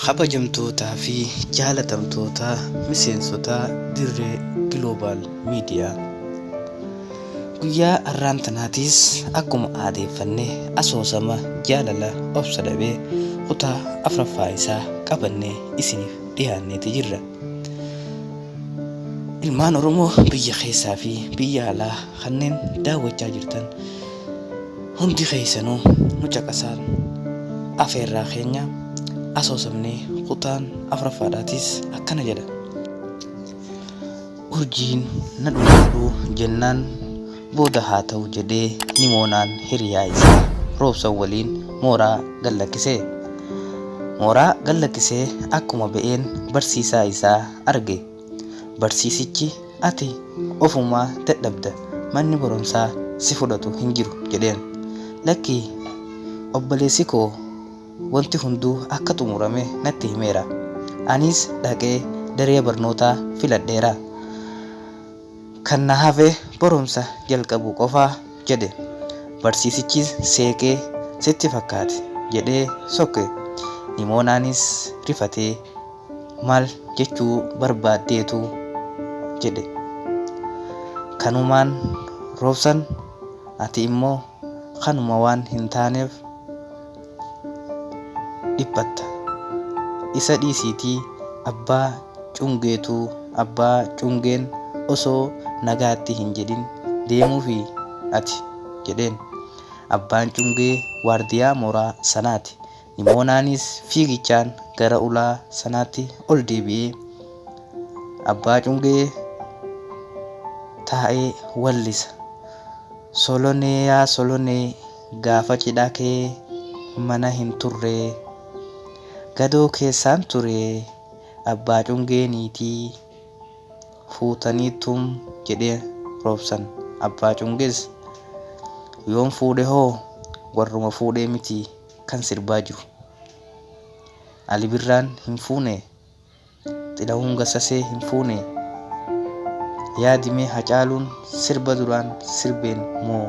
kabajamtootaa fi jaalatamtoota miseensota dirree giloobaal miidiyaa guyyaa har'aan tanaatiis akkuma aadeeffanne asoosama jaalala obsa dhabee kutaa afraffaa isaa qabannee isiniif dhiyaanneeti jirra Ilmaan Oromoo biyya keessaa fi biyya alaa kanneen daawwachaa jirtan hundi keessanuu nu caqasaan afeerraa keenya asoosamnee kutaan afuraffaadhaatis akkana jedha. Urjiin na dhumaadhu jennaan Booda haa ta'u jedhee Nimoonaan hiriyaa isaa Roobsan waliin mooraa gad lakkise. Mooraa gad lakkisee akkuma ba'een barsiisaa isaa arge. Barsiisichi ati ofuma dadhabda manni barumsaa si fudhatu hin jiru jedheen. Lakki obboleessi koo wanti hunduu akka xumurame natti himeera. Anis dhaqee daree barnootaa filadheera. Kan na hafe barumsa jalqabuu qofa, jedhe. Barsiisichis seeqee, Sitti fakkaate? jedhee sokke. Nimoonaanis rifatee, Maal jechuu barbaaddeetu? jedhe. Kanumaan roobsan, ati immoo kanuma waan hin taaneef. dhiphatta. Isa dhiisiitii abbaa cungeetu abbaa cungeen osoo nagaatti hin jedhin deemuufi ati? jedheen. Abbaan cungee waardiyaa mooraa sanaati. Nimoonaanis fiigichaan gara ulaa sanaatti ol deebi'ee abbaa cungee taa'ee wallisa. Soloneeyaa Solonee Gaafa cidhaa kee mana hin turree Gadoo keessaan turee Abbaa cungee niitii fuutanii tum jedhee roobsan Abbaa cungees yoon fuudhe hoo warruma fuudhee miti kan sirbaa jiru Ali birraan hin fuune Xilahuun Gassasee hin fuune? Yaadi mee Hacaaluun sirba duraan sirbeen moo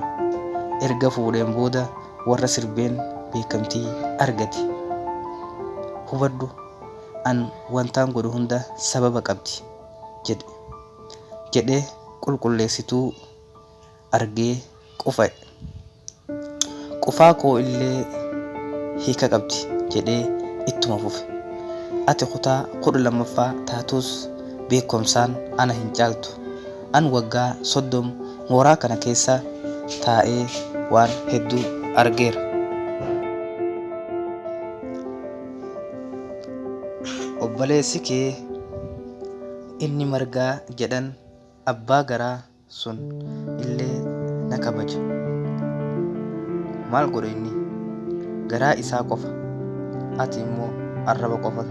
erga fuudheen booda warra sirbeen beekamtii argate? Hubadhu an wantaan godhu hunda sababa qabdi jedhe. Jedhee qulqulleessituu argee qufa'e. Qufaa koo illee hiika qabdi jedhee ittuma fufe. Ati kutaa 12ffaa taatuus beekkomsaan ana hin caaltu. An waggaa 30 mooraa kana keessa taa'ee waan hedduu argeera. Obboleessi kee inni Margaa jedhan abbaa garaa. sun illee na kabaja. Maal godha inni? Garaa isaa qofa. Ati immoo arraba qofa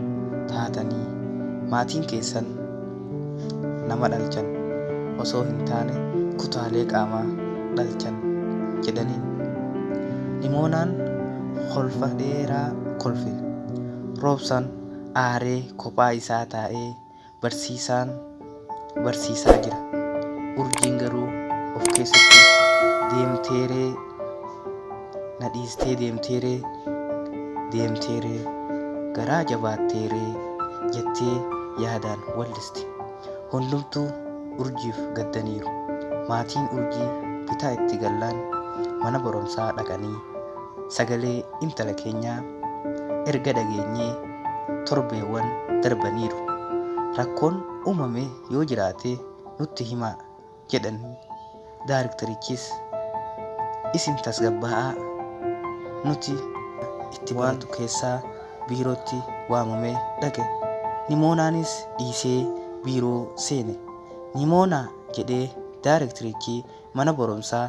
taatanii maatiin keessan nama dhalchan osoo hin taane kutaalee qaamaa dhalchan jedhaniin. Nimoonaan kolfa dheeraa kolfe. Roobsaan aaree kophaa isaa taa'ee Barsiisaan barsiisaa jira. Urjiin garuu of keessatti deemteeree na dhiistee deemteeree deemteeree garaa jabaatteeree jettee yaadaan wallisti. Hundumtuu urjiif gaddaniiru. Maatiin urjii bitaa itti gallaan mana barumsaa dhaqanii sagalee intala keenyaa erga dhageenyee torbeewwan darbaniiru. Rakkoon uumame yoo jiraate nutti himaa jedhanii daariktarichis isin tasgabbaa'aa nuti itti baatu keessaa biirootti waamamee dhaqe. Nimoonaanis dhiisee biiroo seene. Nimoonaa jedhee daariktarichi mana barumsaa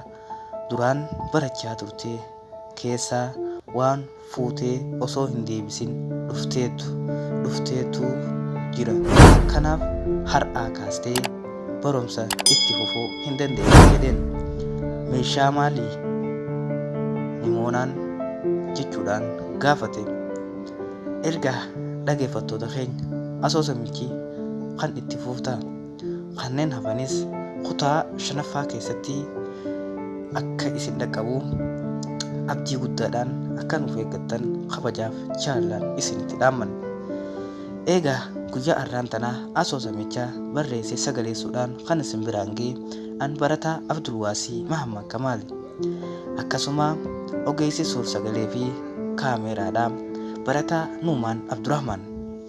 duraan barachaa turte keessaa waan fuutee osoo hin deebisin dhufteetu dhufteetu jira. Kanaaf har'aa kaastee barumsa itti fufuu hin dandeessu jedheen. Meeshaa maalii? Nimoonaan jechuudhaan gaafate. Erga dhageeffattoota keenya asoosamichi kan itti fuuftaa? Kanneen hafanis kutaa 5ffaa keessatti akka isin dhaqqabu abdii guddaadhaan akka nuuf eeggattan kabajaaf jaalalaan isinitti dhaammanna. Eegaa guyyaa arraan tanaa asoosamicha barreessee sagaleessuudhaan kan isin biraan ga'e an barataa Abdulwaasii Mahammad Kamaali. Akkasuma ogeessi suur-sagalee fi kaameeraadha barataa Nuumaan Abdurahmaan.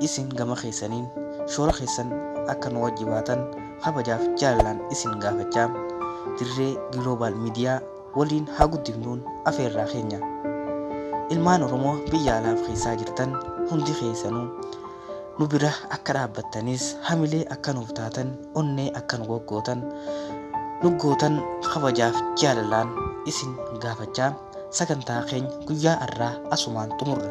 Isin gama keessaniin shoora keessan akka nu wajji baatan kabajaaf jaalalaan isin gaafachaa Dirree Global Media waliin haa guddifnuun afeerraa keenya. Ilmaan Oromoo biyya alaaf keessaa jirtan hundi keessanuu nu bira akka dhaabbattanis hamilee akka nuuf taatan onnee akka nu goggootan nu gootan kabajaaf jaalalaan isin gaafachaa sagantaa keenya guyyaa har'aa asumaan xumurra.